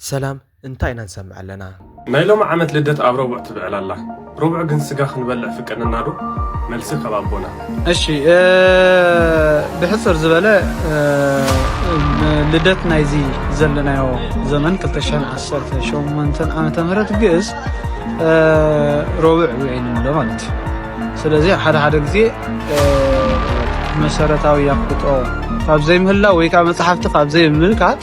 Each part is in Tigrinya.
ሰላም እንታይ ኢና ንሰምዕ ኣለና። ናይ ሎሚ ዓመት ልደት ኣብ ረቡዕ ትብዕል ኣላ ረቡዕ ግን ስጋ ክንበልዕ ፍቀደና ዶ መልሲ ካብ ኣቦና። እሺ ብሕጽር ዝበለ ልደት ናይዚ ዘለናዮ ዘመን 2018 ዓመተ ምህረት ግእዝ ረቡዕ ውዒል ንብሎ ማለት እዩ። ስለዚ ሓደ ሓደ ግዜ መሰረታዊ ኣፍልጦ ካብ ዘይምህላ ወይ ከዓ መፅሓፍቲ ካብ ዘይምምልካት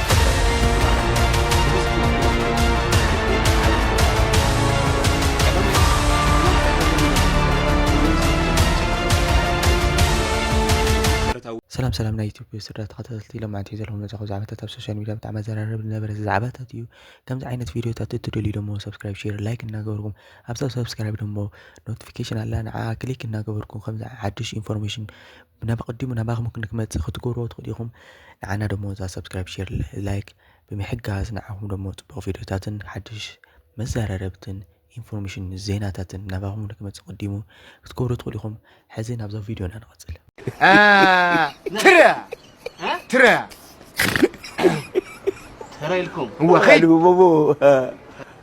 ሰላም ሰላም ናይ ኢትዮጵያ ስድራ ተኸታተልቲ ኢሎም ዓንተ ዘለኹም ነፃኹ ዛዕባታት ኣብ ሶሻል ሚዲያ ብጣዕሚ ኣዘራረብ ዝነበረ ዛዕባታት እዩ ከምዚ ዓይነት ቪዲዮታት እትደልዩ ደሞ ሰብስክራይብ ሼር ላይክ እናገበርኩም ኣብዛ ሰብስክራይብ ደሞ ኖቲፊኬሽን ኣላ ንዓ ክሊክ እናገበርኩም ከምዚ ሓድሽ ኢንፎርሜሽን ናብ ኣቐዲሙ ናባኹም ክንክመጽእ ክትገብርዎ ትኽእሉ ኢኹም። ንዓና ደሞ እዛ ሰብስክራይብ ሼር ላይክ ብምሕጋዝ ንዓኹም ደሞ ጽቡቕ ቪድዮታትን ሓድሽ መዘራረብትን ኢንፎርሜሽን ዜናታትን ናባኹም ንክመጽእ ቅዲሙ ክትገብሩ ትኽእሉ ኢኹም። ሕዚ ናብዛ ቪድዮና ንቐጽል። ትረ ትረ ትረ ኢልኩም እወ ኸይድ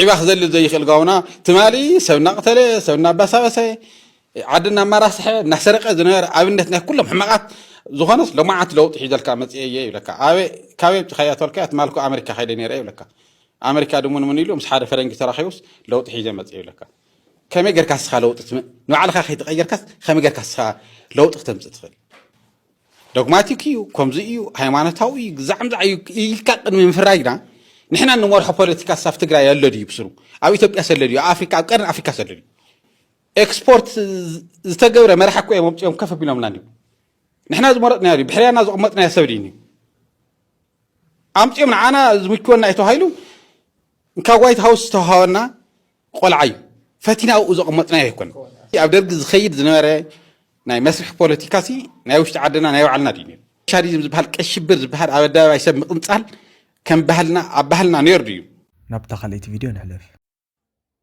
ዒባ ክዘልል ዘይኽእል ጋውና ትማሊ ሰብ እናቕተለ ሰብ እናባሳበሰ ዓዲ እናማራስሐ እናሰረቀ ዝነበረ ኣብነት ናይ ኩሎም ሕማቓት ዝኾነስ ሎማዓት ለውጢ ሒዘልካ መፅኤ እየ ይብለካ ኣበይ ካበይ ኣምፂኻያ ተልካያ ትማልኩ ኣመሪካ ከይደ ነይረ ይብለካ ኣመሪካ ድሙን ምን ኢሉ ምስ ሓደ ፈረንጂ ተራኺቡስ ለውጢ ሒዘ መፅኤ ይብለካ ከመይ ጌርካ ስኻ ለውጢ ንባዕልኻ ከይተቀየርካስ ከመይ ጌርካ ስኻ ለውጢ ክተምፅእ ትኽእል ዶግማቲክ እዩ፣ ከምዚ እዩ፣ ሃይማኖታዊ እዩ፣ ግዛዕምዛዕ እዩ ኢልካ ቅድሚ ምፍራጅ ግና ንሕና እንመርሖ ፖለቲካስ ኣብ ትግራይ ኣሎ ድዩ ብስሩ? ኣብ ኢትዮጵያ ሰለ ድዩ? ኣብ ኣፍሪካ ኣብ ቀርኒ ኣፍሪካ ሰለ ድዩ? ኤክስፖርት ዝተገብረ መራሒ እኮ እዮም ኣምፅኦም ከፍ ኣቢሎምና እንዲሁ ንሕና ዝመረጥናዮ ድዩ? ብሕርያና ዝቕመጥናዮ ሰብ ድዩ? ኣምፅኦም ንዓና ዝምችወና እዩ ተባሂሉ ካብ ዋይት ሃውስ ዝተውሃበና ቆልዓ እዩ ፈቲና ኣብኡ ዘቐመጥናዮ ኣይኮነ ኣብ ደርጊ ዝኸይድ ዝነበረ ናይ መስርሒ ፖለቲካ ሲ ናይ ውሽጢ ዓድና ናይ ባዕልና ድዩ ነይሩ ሻዲዝም ዝበሃል ቀይ ሽብር ዝበሃል ኣብ ኣደባባይ ሰብ ምቕንጻል ከም ባህልና ኣብ ባህልና ነይሩ ድዩ ናብታ ካልኣይቲ ቪድዮ ንሕለፍ።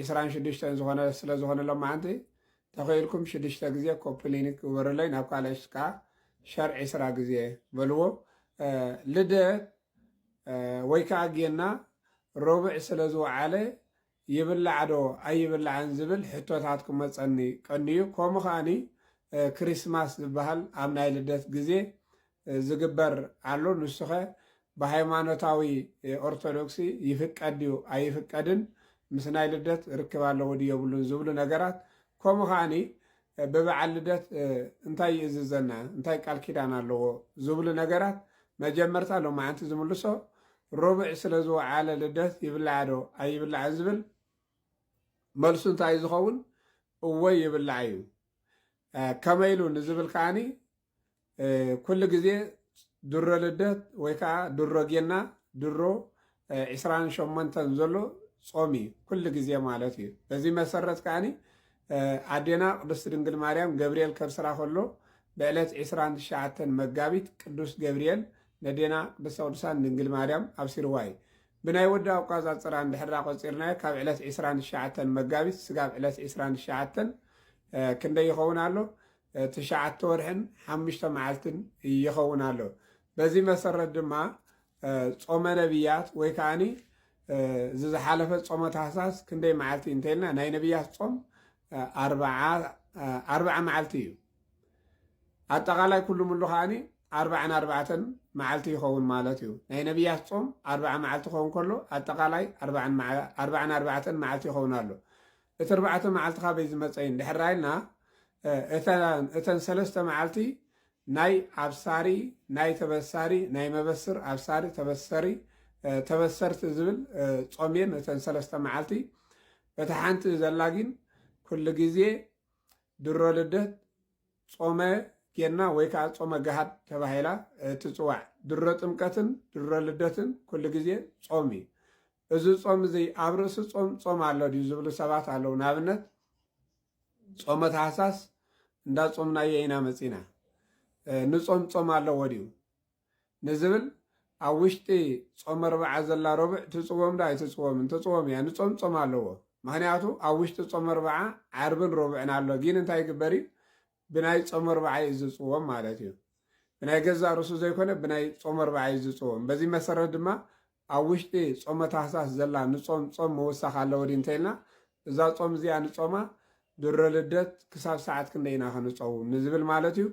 ዒስራን ሽዱሽተን ዝኾነ ስለ ዝኾነ ሎማዓንቲ ተኺኢልኩም ሽዱሽተ ግዜ ኮፒ ሊንክ ግበሩለይ ናብ ካልኦት ከኣ ሸር ዒስራ ግዜ በልዎ ልደት ወይ ከኣ ጌና ሮብዕ ስለ ዝወዓለ ይብላዕ ዶ ኣይብላዕን ዝብል ሕቶታት ክመፀኒ ቀንዩ ከምኡ ከኣኒ ክሪስማስ ዝበሃል ኣብ ናይ ልደት ግዜ ዝግበር ኣሎ ንሱኸ ብሃይማኖታዊ ኦርቶዶክስ ይፍቀድ ድዩ ኣይፍቀድን ምስ ናይ ልደት ርክብ ኣለዎ ድዩ የብሉን ዝብሉ ነገራት ከምኡ ከዓኒ ብበዓል ልደት እንታይ ይእዝዘና እንታይ ቃል ኪዳን ኣለዎ ዝብሉ ነገራት መጀመርታ ሎማዓንቲ ዝምልሶ ሮብዕ ስለ ዝወዓለ ልደት ይብላዕ ዶ ኣይብላዕን ዝብል መልሱ እንታይ ዝኸውን እወ ይብላዕ እዩ ከመይ ኢሉ ንዝብል ከዓኒ ኩሉ ግዜ ድሮ ልደት ወይ ከዓ ድሮ ጌና ድሮ ዕስራን ሸሞንተን ዘሎ ጾም እዩ ኩሉ ግዜ ማለት እዩ በዚ መሰረት ከዓኒ ኣዴና ቅድስት ድንግል ማርያም ገብርኤል ከብስራ ከሎ ብዕለት ዕስራን ትሽዓተን መጋቢት ቅዱስ ገብርኤል ነዴና ቅድስተ ቅዱሳን ድንግል ማርያም ኣብሲርዋ እዩ ብናይ ወዲ ኣቋፃፅራ እንድሕራ ቆፂርናዮ ካብ ዕለት ዕስራን ትሽዓተን መጋቢት ስጋብ ዕለት ዕስራን ትሽዓተን ክንደይ ይኸውን ኣሎ ትሽዓተ ወርሕን ሓሙሽተ መዓልትን ይኸውን ኣሎ። በዚ መሰረት ድማ ጾመ ነቢያት ወይ ከዓኒ እዚ ዝሓለፈ ጾመ ታህሳስ ክንደይ መዓልቲ እንተይልና ናይ ነቢያት ጾም ኣርብዓ መዓልቲ እዩ። ኣጠቓላይ ኩሉ ምሉ ከዓኒ ኣርባዕን ኣርባዕተን መዓልቲ ይኸውን ማለት እዩ። ናይ ነቢያት ጾም ኣርባዓ መዓልቲ ክኸውን ከሎ ኣጠቓላይ ኣርባዕን ኣርባዕተን መዓልቲ ይኸውን ኣሎ። እቲ ኣርባዕተ መዓልቲ ካበይ ዝመጸ እዩ እንድሕር ራኢልና እተን ሰለስተ መዓልቲ ናይ ኣብሳሪ ናይ ተበሳሪ ናይ መበስር ኣብሳሪ ተበሰሪ ተበሰርቲ ዝብል ጾም እየን እተን ሰለስተ መዓልቲ በታ ሓንቲ ዘላ ግን ኩሉ ግዜ ድሮ ልደት ጾመ ጌና ወይ ከዓ ጾመ ገሃድ ተባሂላ ትፅዋዕ ድሮ ጥምቀትን ድሮ ልደትን ኩሉ ግዜ ጾም እዩ እዚ ጾም እዚ ኣብ ርእሲ ጾም ጾም ኣሎ ድዩ ዝብሉ ሰባት ኣለዉ። ንኣብነት ጾመ ታህሳስ እንዳ ጾምናዮ ኢና መጺና ንጾም ጾም ኣለዎ ድዩ ንዝብል ኣብ ውሽጢ ጾመ ርብዓ ዘላ ረቡዕ ትጽወም ዶ ኣይትጽወምን? ትጽወም እያ። ንጾም ጾም ኣለዎ። ምክንያቱ ኣብ ውሽጢ ጾመ ርብዓ ዓርብን ረቡዕን ኣሎ። ግን እንታይ ይግበር እዩ? ብናይ ጾም ኣርብዓ እዩ ዝጽወም ማለት እዩ። ብናይ ገዛእ ርእሱ ዘይኮነ ብናይ ጾም ኣርብዓ እዩ ዝጽወም። በዚ መሰረት ድማ ኣብ ውሽጢ ጾመ ታህሳስ ዘላ ንጾም ጾም ምውሳኽ ኣለዎ ድዩ እንተኢልና እዛ ጾም እዚኣ ንጾማ ድሮ ልደት ክሳብ ሰዓት ክንደይ ኢና ክንጸውም ንዝብል ማለት እዩ።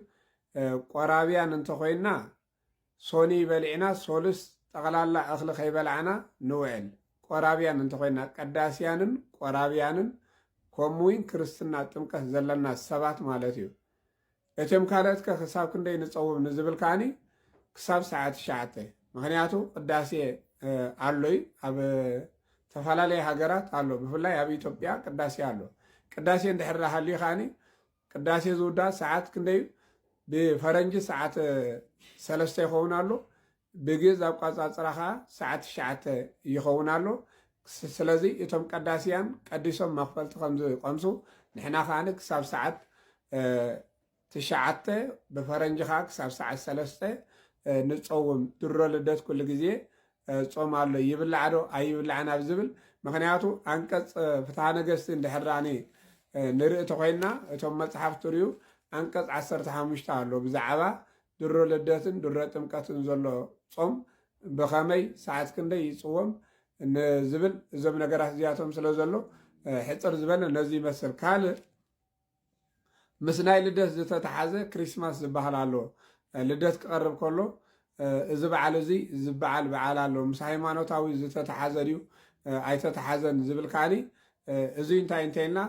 ቆራብያን እንተኾይንና ሶኑይ በሊዕና ሶሉስ ጠቕላላ እኽሊ ከይበላዕና ንውዕል። ቆራብያን እንተኾይና፣ ቀዳስያንን ቆራብያንን ኮምውን ክርስትና ጥምቀት ዘለና ሰባት ማለት እዩ። እትም ካልኦትከ ክሳብ ክንደይ ንጸውም ንዝብል ከኣኒ ክሳብ ሰዓት ትሽዓተ ምክንያቱ ቅዳሴ ኣሎ እዩ ኣብ ተፈላለየ ሃገራት ኣሎ ብፍላይ ኣብ ኢትዮጵያ ቅዳሴ ኣሎ ቅዳሴ እንድሕር ሃልዩ ከኣኒ ቅዳሴ ዝውዳእ ሰዓት ክንደይ እዩ? ብፈረንጂ ሰዓት ሰለስተ ይኸውን ኣሎ። ብግእዝ ኣቋፃፅራ ከዓ ሰዓት ትሽዓተ ይኸውን ኣሎ። ስለዚ እቶም ቀዳስያን ቀዲሶም መኽፈልቲ ከምዝቐምሱ ንሕና ከዓ ክሳብ ሰዓት ትሽዓተ ብፈረንጂ ከዓ ክሳብ ሰዓት ሰለስተ ንፀውም ድሮ ልደት ኩሉ ግዜ ጾም ኣሎ ይብላዕ ዶ ኣይብላዕን ኣብ ዝብል ምክንያቱ ኣንቀጽ ፍትሃ ነገስቲ እንድሕራኒ ንርኢ ተኮይንና እቶም መጽሓፍ ትርዩ ኣንቀጽ ዓሰርተ ሓሙሽተ ኣሎ ብዛዕባ ድሮ ልደትን ድሮ ጥምቀትን ዘሎ ጾም ብኸመይ ሰዓት ክንደይ ይጽወም ንዝብል እዞም ነገራት እዚኣቶም ስለ ዘሎ ሕፅር ዝበለ ነዚ ይመስል ካልእ ምስ ናይ ልደት ዝተተሓዘ ክሪስማስ ዝበሃል ኣሎ ልደት ክቐርብ ከሎ እዚ በዓል እዚ ዝበዓል በዓል ኣሎ ምስ ሃይማኖታዊ ዝተተሓዘ ድዩ ኣይተተሓዘን ዝብል ከዓኒ እዙይ እንታይ እንተይልና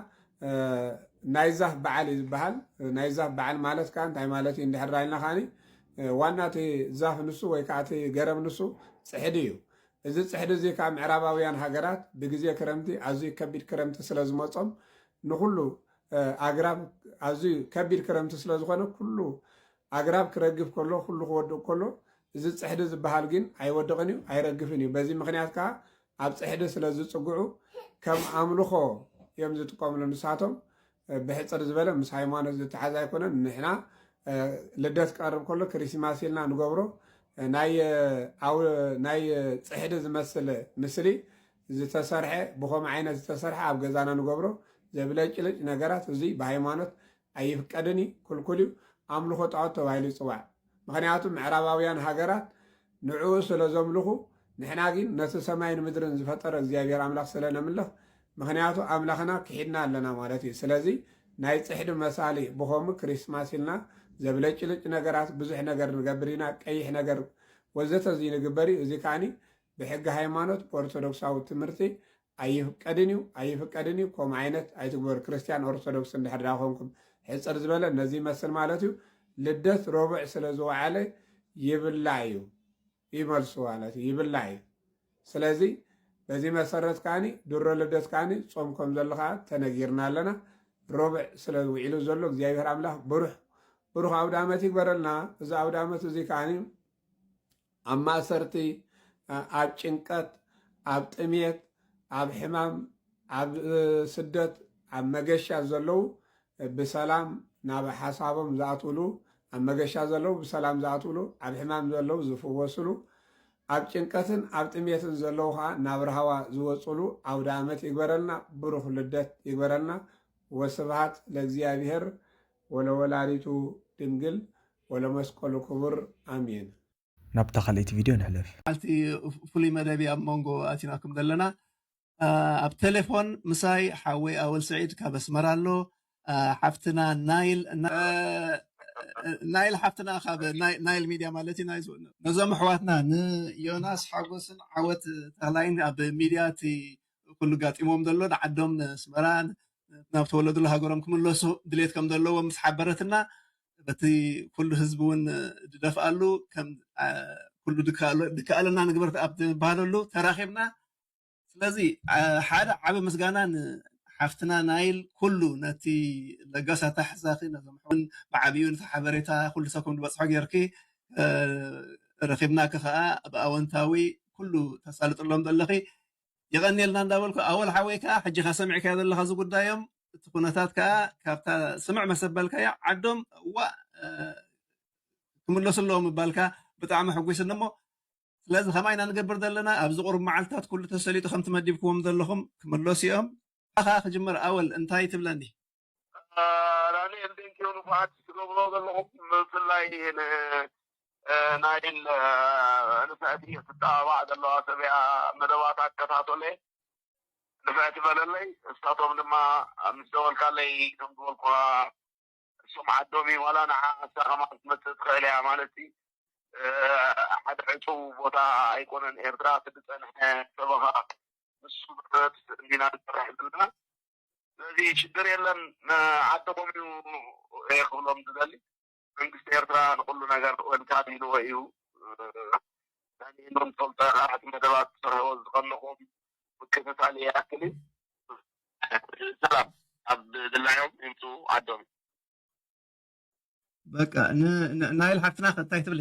ናይ ዛፍ በዓል እዩ ዝበሃል ናይ ዛፍ በዓል ማለት ከዓ እንታይ ማለት እዩ እንድሕር ኢልና ከዓኒ ዋና እቲ ዛፍ ንሱ ወይ ከዓ እቲ ገረብ ንሱ ፅሕዲ እዩ እዚ ፅሕዲ እዚ ከዓ ምዕራባውያን ሃገራት ብግዜ ክረምቲ ኣዝዩ ከቢድ ክረምቲ ስለ ዝመፆም ንኹሉ ኣግራብ ኣዝዩ ከቢድ ክረምቲ ስለ ዝኾነ ኩሉ ኣግራብ ክረግፍ ከሎ ኩሉ ክወድቕ ከሎ እዚ ፅሕዲ ዝበሃል ግን ኣይወድቕን እዩ ኣይረግፍን እዩ። በዚ ምክንያት ከዓ ኣብ ፅሕዲ ስለ ዝፅግዑ ከም ኣምልኾ እዮም ዝጥቀምሉ ንሳቶም። ብሕፅር ዝበለ ምስ ሃይማኖት ዝተሓዝ ኣይኮነን። ንሕና ልደት ክቐርብ ከሎ ክሪስማስ ኢልና ንገብሮ ናይ ፅሕዲ ዝመስል ምስሊ ዝተሰርሐ ብከምኡ ዓይነት ዝተሰርሐ ኣብ ገዛና ንገብሮ ዘብለጭልጭ ነገራት እዙይ ብሃይማኖት ኣይፍቀድን እዩ ክልኩል እዩ ኣምልኾ ጣዖት ተባሂሉ ይፅዋዕ ምክንያቱ ምዕራባውያን ሃገራት ንዕኡ ስለ ዘምልኹ ንሕና ግን ነቲ ሰማይን ምድርን ዝፈጠረ እግዚኣብሔር ኣምላኽ ስለ ነምልኽ ምክንያቱ ኣምላኽና ክሒድና ኣለና ማለት እዩ ስለዚ ናይ ፅሕዲ መሳሊ ብከምኡ ክሪስማስ ኢልና ዘብለጭልጭ ነገራት ብዙሕ ነገር ንገብር ኢና ቀይሕ ነገር ወዘተ እዚ ንግበር እዩ እዚ ከዓኒ ብሕጊ ሃይማኖት ኦርቶዶክሳዊ ትምህርቲ ኣይፍቀድን እዩ ኣይፍቀድን እዩ ከምኡ ዓይነት ኣይትግበሩ ክርስትያን ኦርቶዶክስ እንድሕር ድኣ ኮንኩም ሕፅር ዝበለ ነዚ ይመስል ማለት እዩ ልደት ረቡዕ ስለ ዝወዓለ ይብላ እዩ ይመልሱ ማለት እዩ ይብላ እዩ ስለዚ በዚ መሰረት ከዓኒ ድሮ ልደት ከዓኒ ፆም ከም ዘሎ ከዓ ተነጊርና ኣለና ረቡዕ ስለ ውዒሉ ዘሎ እግዚኣብሔር ኣምላክ ብሩሕ ብሩክ ኣውደ ዓመት ይግበረልና እዚ ኣውደ ዓመት እዚ ከዓኒ ኣብ ማእሰርቲ፣ ኣብ ጭንቀት፣ ኣብ ጥምየት፣ ኣብ ሕማም፣ ኣብ ስደት፣ ኣብ መገሻ ዘለዉ ብሰላም ናብ ሓሳቦም ዝኣትዉሉ፣ ኣብ መገሻ ዘለዉ ብሰላም ዝኣትዉሉ፣ ኣብ ሕማም ዘለዉ ዝፍወስሉ፣ ኣብ ጭንቀትን ኣብ ጥምየትን ዘለዉ ከዓ ናብ ራህዋ ዝወፅሉ ኣውደኣመት ይግበረልና፣ ብሩኽ ልደት ይግበረልና። ወስብሃት ለእግዚኣብሔር ወለወላዲቱ ድንግል ወለመስቀሉ ክቡር ኣሜን። ናብታ ካልኣይቲ ቪድዮ ንሕለፍ። መዓልቲ ፍሉይ መደብ እዩ ኣብ መንጎ ኣቲናኩም ዘለና። ኣብ ቴሌፎን ምሳይ ሓወይ ኣወል ስዒድ ካብ ኣስመራ ኣሎ። ሓፍትና ናይል ናይል ሓፍትና ካብ ናይል ሚድያ ማለት እዩ ናይዝ ነዞም ኣሕዋትና ንዮናስ ሓጎስን ዓወት ተኽላይን ኣብ ሚድያ እቲ ኩሉ ጋጢሞም ዘሎ ንዓዶም ንኣስመራ ናብ ተወለድሉ ሃገሮም ክምለሱ ድሌት ከም ዘለዎም ምስ ሓበረትና በቲ ኩሉ ህዝቢ እውን ዝደፍኣሉ ከም ኩሉ ድከኣለና ንግበር ኣብ ዝበሃለሉ ተራኺብና ስለዚ ሓደ ዓቢ ምስጋና ንሓፍትና ናይል ኩሉ ነቲ ለጋስ ኣታሕዛኺ ነዞም ሕውን ብዓቢኡ ነቲ ሓበሬታ ኩሉ ሰብ ከም ዝበጽሖ ጌርኪ ረኺብናኪ ከኣ ብኣወንታዊ ኩሉ ተሳልጥሎም ዘለኺ የቐንየልና እንዳበልኩ ኣወል ሓወይ ከኣ ሕጂኻ ሰሚዕካዮ ዘለኻ እዚ ጉዳዮም እቲ ኩነታት ከኣ ካብታ ስምዕ መሰበልካያ ዓዶም እዋእ ክምለሱ ኣለዎም ምባልካ ብጣዕሚ ሕጒስኒ እሞ ስለዚ ከማይ ኢና ንገብር ዘለና ኣብዚ ቁሩብ መዓልትታት ኩሉ ተሰሊጡ ከምቲ መዲብክዎም ዘለኹም ክምለሱ እዮም ካኻ ክጅምር ኣወል እንታይ ትብለኒ ዳንኤል ቴንኪው ንፉዓት ትገብሮ ዘለኹም ብፍላይ ንናይል ንፍዕቲ ትጠባባዕ ዘለዋ ሰብያ መደባት ኣከታተለ ንፍዕቲ በለለይ እሳቶም ድማ ምስ ደወልካለይ ከም ዝበልኩኻ እሶም ዓዶም እዩ ዋላ ንዓ ንሳ ከማ ክትመፅእ ትኽእል እያ ማለት ሲ ሓደ ዕፁው ቦታ ኣይኮነን ኤርትራ እቲ ዝፀንሐ ሰበኻ ንሱ መሰረት እንዲና ንሰርሕ ዘለና ስለዚ ሽግር የለን ንዓድኹም እዩ እየ ክብሎም ዝደሊ መንግስቲ ኤርትራ ንኹሉ ነገር ወልካም ኢልዎ እዩ ዳኒኤል ፈልጠ ካልኣት መደባት ትሰርሕዎ ዝኸለኹም ምክትታል ይኣክል እዩ። ሰላም ኣብ ድላዮም ይምፁ ዓዶም። በቃ ን ናይል ሓፍትና ከ እንታይ ትብሊ?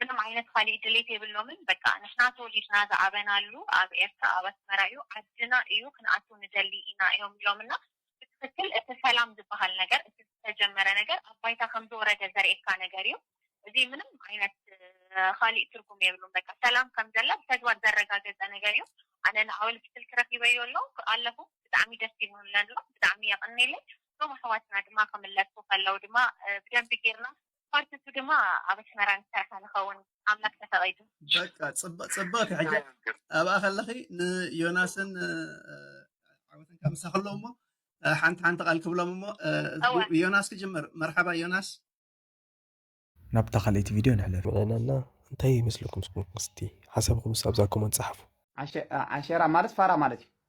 ምንም ዓይነት ኻሊእ ድሌት የብሎምን በቃ ንሕና ተወሊድና ዝዓበናሉ ኣብ ኤርትራ ኣብ ኣስመራ እዩ ዓድና እዩ ክንኣቱ ንደሊ ኢና እዮም ኢሎምና ብትኽክል እቲ ሰላም ዝባሃል ነገር እቲ ዝተጀመረ ነገር ኣብ ባይታ ከምዝወረደ ዘርእየካ ነገር እዩ እዚ ምንም ዓይነት ኻሊእ ትርጉም የብሉን በቃ ሰላም ከምዘላ ብተግባር ዘረጋገፀ ነገር እዩ ኣነ ንኣወል ብስልኪ ረኺበዮ ኣሎ ኣለኹ ብጣዕሚ ደስ ኢሉኒ ኣሎ ብጣዕሚ የቕኔለይ እቶም ኣሕዋትና ድማ ክምለሱ ከለው ድማ ብደንቢ ጌርና ፓርት ንሱ ድማ ኣብ ኣስመራ ንሰርሓ ንከውን ኣምላክ ተፈቂዱ። በቃ ጽብቅቲ ሕጂ ኣብኣ ከለኺ ንዮናስን ዓወትን ካብ ምሳኺ ኣለዉ እሞ ሓንቲ ሓንቲ ቃል ክብሎም እሞ ዮናስ ክጅምር መርሓባ ዮናስ ናብታ ካልኣይቲ ቪድዮ ንሕለፍ። ምዕናና እንታይ ይመስለኩም እስኪ ሓሳብኩምስ ኣብዛ ኮመንት ጸሓፉ። ዓሸራ ማለት ፋራ ማለት እዩ።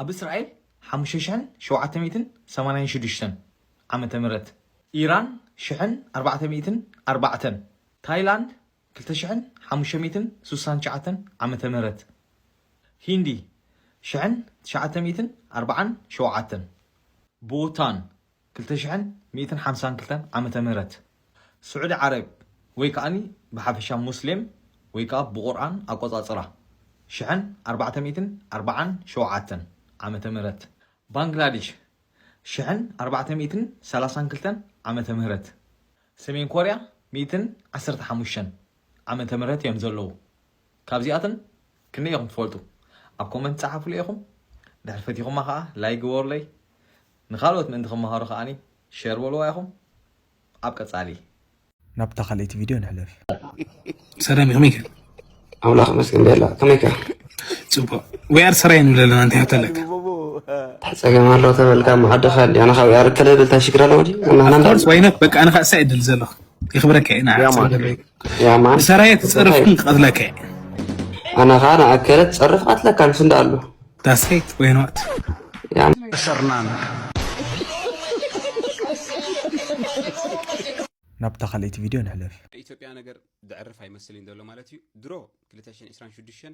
ኣብ እስራኤል ሓሙሽተ ሽሕን ሸውዓተ ሚእትን ሰማንያን ሽዱሽተን ዓመተ ምህረት፣ ኢራን ሽሕን ኣርባዕተ ሚእትን ኣርባዕተን፣ ታይላንድ ክልተ ሽሕን ሓሙሽተ ሚእትን ስሳን ትሽዓተን ዓመተ ምህረት፣ ሂንዲ ሽሕን ትሽዓተ ሚእትን ኣርባዓን ሸውዓተን፣ ቡታን ክልተ ሽሕን ሚእትን ሓምሳን ክልተን ዓመተ ምህረት ስዑዲ ዓረብ ወይ ከኣ ብሓፈሻ ሙስሌም ወይ ከኣ ብቁርኣን ኣቆጻጽራ ሽሕን ኣርባዕተ ሚእትን ኣርባዓን ሸውዓተን ዓመተ ምህረት ባንግላድሽ ሽሕን ኣርባዕተ ሚእትን ሰላሳን ክልተን ዓመተ ምህረት ሰሜን ኮርያ ሚእትን ዓሰርተ ሓሙሽተን ዓመተ ምህረት እዮም ዘለዉ። ካብዚኣተን ክንደይ ኢኹም ትፈልጡ ኣብ ኮመንት ጸሓፉለይ ኢኹም ድሕሪ ፈቲኹማ ከኣ ላይክ ግበሩለይ ንኻልኦት ምእንቲ ክመሃሩ ከኣ ሸር በልዋ ኢኹም ኣብ ቀጻሊ ናብታ ካልኣይቲ ቪድዮ ንሕለፍ። ሰላም ከመይ ከ ኣምላኽ መስገን ደላ ከመይ ከ ጽቡቅ ወይ ኣር ሰራይ ንብለ ኣለና እንታይ ሕቶ ኣለካ ተጸገም ኣሎ ተበልካ ማሓደኻ ኣሊ ኣነ ካብ ያር ከለ በልታ ሽግር ኣለዎ ዲ ኣናና ወይ ነ በቃ ኣነ ካሳ ይድል ዘለኹ ይኽብረካ ኢና ንሰራየ ትፀርፍ ክቐትለካ እየ ኣነ ከዓ ንኣከለ ትፀርፍ ቀትለካ ምስ እንዳ ኣሎ ዳሰይት ወይኖት ሰርናን ናብታ ካልኣይቲ ቪድዮ ንሕለፍ ኢትዮጵያ ነገር ዘዕርፍ ኣይመስል እዩ ዘሎ ማለት እዩ ድሮ 226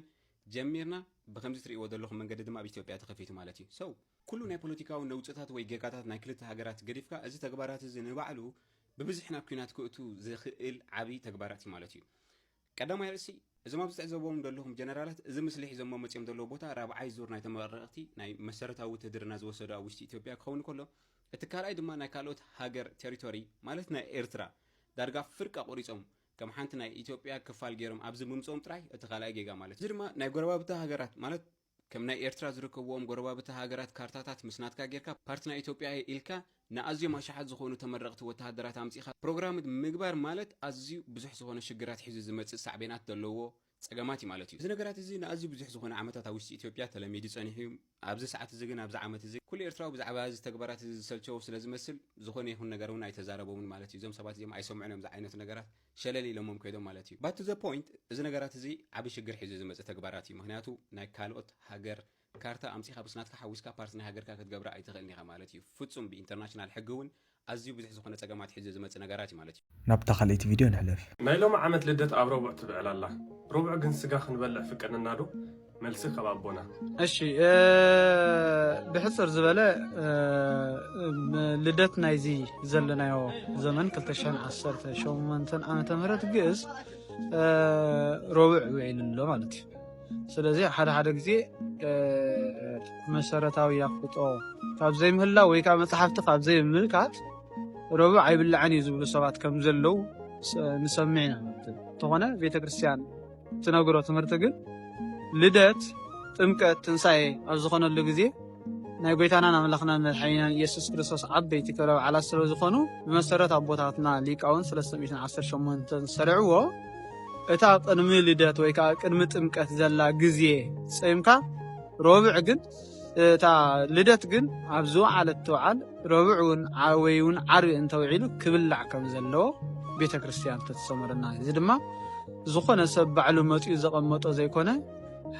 ጀሚርና ብከምዚ ትርእይዎ ዘለኹም መንገዲ ድማ ኣብ ኢትዮጵያ ተኸፊቱ ማለት እዩ ሰው ኩሉ ናይ ፖለቲካዊ ነውፅታት ወይ ጌጋታት ናይ ክልተ ሃገራት ገዲፍካ እዚ ተግባራት እዚ ንባዕሉ ብብዝሒ ናብ ኲናት ክእቱ ዝኽእል ዓቢ ተግባራት እዩ ማለት እዩ። ቀዳማይ ርእሲ፣ እዞም ኣብዚ ትዕዘብዎም ዘለኹም ጀነራላት እዚ ምስሊ ሒዞሞ መጺኦም ዘለዉ ቦታ ራብዓይ ዙር ናይ ተመረቕቲ ናይ መሰረታዊ ውትህድርና ዝወሰዱ ኣብ ውሽጢ ኢትዮጵያ ክኸውን ከሎ እቲ ካልኣይ ድማ ናይ ካልኦት ሃገር ቴሪቶሪ ማለት ናይ ኤርትራ ዳርጋ ፍርቂ ኣቑሪጾም ከም ሓንቲ ናይ ኢትዮጵያ ክፋል ገይሮም ኣብዚ ምምጽኦም ጥራይ እቲ ካልኣይ ጌጋ ማለት እዚ ድማ ናይ ጎረባብቲ ሃገራት ማለት ከም ናይ ኤርትራ ዝርከብዎም ጎረባብቲ ሃገራት ካርታታት ምስ ናትካ ጌርካ ፓርቲ ናይ ኢትዮጵያ እየ ኢልካ ንኣዝዮም ኣሽሓት ዝኾኑ ተመረቕቲ ወተሃደራት ኣምጺእኻ ፕሮግራምት ምግባር ማለት ኣዝዩ ብዙሕ ዝኾነ ሽግራት ሒዙ ዝመጽእ ሳዕቤናት ዘለዎ ጸገማት እዩ ማለት እዩ። እዚ ነገራት እዚ ንኣዝዩ ብዙሕ ዝኾነ ዓመታት ኣብ ውሽጢ ኢትዮጵያ ተለሚዱ ጸኒሑ እዩ። ኣብዚ ሰዓት እዚ ግን ኣብዚ ዓመት እዚ ኩሉ ኤርትራዊ ብዛዕባ እዚ ተግባራት እዚ ዝሰልቸዎ ስለ ዝመስል ዝኾነ ይኹን ነገር እውን ኣይተዛረቦምን ማለት እዩ። እዞም ሰባት እዚኦም ኣይሰምዑን እዮም ዝዓይነቱ ነገራት። ሸለል ኢሎሞም ከይዶም ማለት እዩ። ባክ ቱ ዘ ፖይንት እዚ ነገራት እዚ ዓቢ ሽግር ሒዙ ዝመጽእ ተግባራት እዩ ምክንያቱ ናይ ካልኦት ሃገር ካርታ ኣምጺኻ ምስ ናትካ ሓዊስካ ፓርቲ ናይ ሃገርካ ክትገብራ ኣይትኽእልን ኢኻ ማለት እዩ ፍጹም ብኢንተርናሽናል ሕጊ እውን ኣዝዩ ብዙሕ ዝኾነ ጸገማት ሒዙ ዝመጽእ ነገራት እዩ ማለት እዩ። ናብታ ካልኣይቲ ቪድዮ ንሕለፍ። ናይ ሎሚ ዓመት ልደት ኣብ ረቡዕ ትብዕል ኣላ። ረቡዕ ግን ስጋ ክንበልዕ ፍቀድናዶ? መልሲ ካብ ኣቦና እሺ ብሕፅር ዝበለ ልደት ናይዚ ዘለናዮ ዘመን 218 ዓመተ ምህረት ግእዝ ሮብዕ ውዒሉ ኣሎ ማለት እዩ ስለዚ ሓደ ሓደ ግዜ መሰረታዊ ኣፍልጦ ካብ ዘይምህላ ወይ ከዓ መፅሓፍቲ ካብ ዘይምልካት ረቡዕ ኣይብላዕን እዩ ዝብሉ ሰባት ከም ዘለው ንሰምዕ ኢና እንተኾነ ቤተክርስትያን ትነግሮ ትምህርቲ ግን ልደት፣ ጥምቀት፣ ትንሳኤ ኣብ ዝኾነሉ ግዜ ናይ ጎይታናን ኣምላኽናን መድሓኒናን ኢየሱስ ክርስቶስ ዓበይቲ ክብረ በዓላት ስለ ዝኾኑ ብመሰረት ኣቦታትና ሊቃውንት ሰለስተ ሚእትን ዓሰርተ ሸሞንተን ዝሰረዕዎ እታ ቅድሚ ልደት ወይ ከዓ ቅድሚ ጥምቀት ዘላ ግዜ ጸይምካ ሮብዕ ግን እታ ልደት ግን ኣብ ዝወዓለት ትውዓል ረቡዕ እውን ወይ እውን ዓርቢ እንተውዒሉ ክብላዕ ከም ዘለዎ ቤተ ክርስቲያን ተተሰመረና እዚ ድማ ዝኾነ ሰብ ባዕሉ መፅኡ ዘቐመጦ ዘይኮነ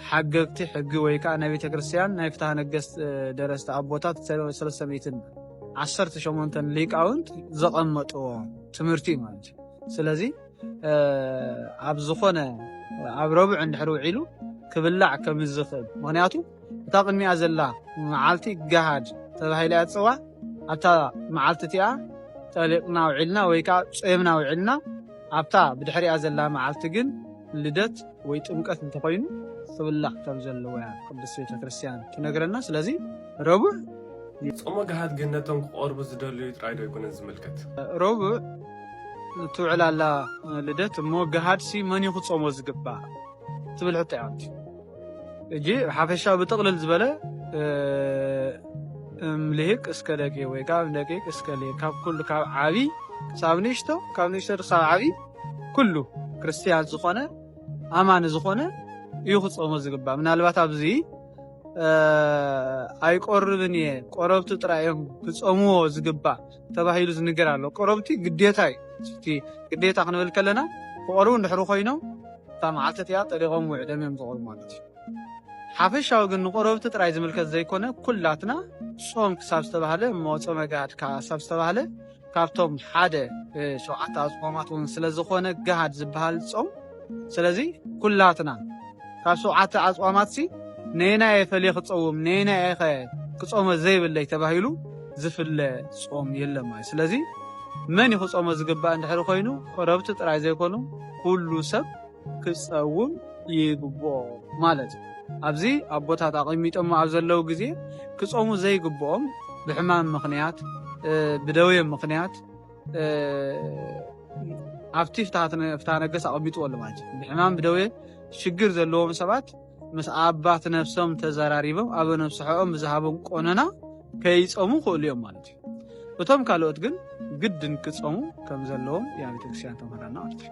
ሓገግቲ ሕጊ ወይ ከዓ ናይ ቤተ ክርስቲያን ናይ ፍትሃ ነገስት ደረስቲ ኣቦታት ሰለስተ ሚእትን ዓሰርተ ሸሞንተን ሊቃውንት ዘቐመጥዎ ትምህርቲ ማለት እዩ ስለዚህ ኣብ ዝኾነ ኣብ ረቡዕ እንድሕር ውዒሉ ክብላዕ ከም ዝኽእል ምክንያቱ እታ ቅድሚኣ ዘላ መዓልቲ ገሃድ ተባሂላ እያ ትፅዋዕ ኣብታ መዓልቲ እቲኣ ጠሊቕና ውዒልና ወይ ከዓ ፀምና ውዒልና ኣብታ ብድሕሪኣ ዘላ መዓልቲ ግን ልደት ወይ ጥምቀት እንተኾይኑ ክብላዕ ከም ዘለዎ እያ ቅዱስ ቤተ ክርስቲያን ትነግረና ስለዚ ረቡዕ ጾመ ገሃድ ግን ነቶም ክቐርቡ ዝደልዩ ጥራይ ዶ ኣይኮነን ዝምልከት ረቡዕ ትውዕል ኣላ ልደት እሞ ገሃድሲ መን እዩ ክጾሞ ዝግባእ ትብል ሕቶ እያ ኣንቲ እጂ ሓፈሻዊ ብጥቕልል ዝበለ እምልሂቅ እስከ ደቂ ወይ ካብ ደቂቅ እስከ ልሂቅ ካብ ኩሉ ካብ ዓቢ ክሳብ ንእሽቶ ካብ ንእሽቶ ክሳብ ዓቢ ኩሉ ክርስትያን ዝኾነ ኣማኒ ዝኾነ እዩ ክጾሞ ዝግባእ ምናልባት ኣብዚ ኣይቆርብን እየ ቆረብቱ ጥራይ እዮም ክጾምዎ ዝግባእ ተባሂሉ ዝንገር ኣሎ። ቀረቡ እቲ ግዴታ እዩ። እቲ ግዴታ ክንብል ከለና ክቐርቡ እንድሕሪ ኮይኖም እታ መዓልቲ እቲኣ ጠሊቖም ውዒሎም እዮም ዝቐርቡ ማለት እዩ። ሓፈሻዊ ግን ንቆረብቲ ጥራይ ዝምልከት ዘይኮነ ኩላትና ጾም ክሳብ ዝተባህለ እሞ ጾመ ጋድ ክሳብ ዝተባህለ ካብቶም ሓደ ሸውዓተ ኣጽዋማት እውን ስለ ዝኾነ ጋሃድ ዝበሃል ጾም ስለዚ ኩላትና ካብ ሸውዓተ ኣጽዋማትሲ ነየናይ እየ ፈልየ ክጸውም ነየናይ እየ ከ ክጾመ ዘይብለይ ተባሂሉ ዝፍለ ጾም የለን ማለት ስለዚ መን እዩ ክጾሞ ዝግባእ እንድሕሪ ኮይኑ ቆረብቲ ጥራይ ዘይኮኑ ኩሉ ሰብ ክጸውም ይግብኦ ማለት እዩ ኣብዚ ኣቦታት ኣቐሚጦሞ ኣብ ዘለዉ ግዜ ክጾሙ ዘይግብኦም ብሕማም ምኽንያት ብደውየ ምኽንያት ኣብቲ ፍትሃ ነገስ ኣቐሚጥዎ ኣሎ ማለት እዩ ብሕማም ብደዌ ሽግር ዘለዎም ሰባት ምስ ኣባት ነፍሶም ተዘራሪቦም ኣብ ነብስሖኦም ብዝሃቦም ቆነና ከይፀሙ ክእሉ እዮም ማለት እዩ እቶም ካልኦት ግን ግድን ክፀሙ ከም ዘለዎም ያ ቤተክርስትያን ተምህረና ማለት እዩ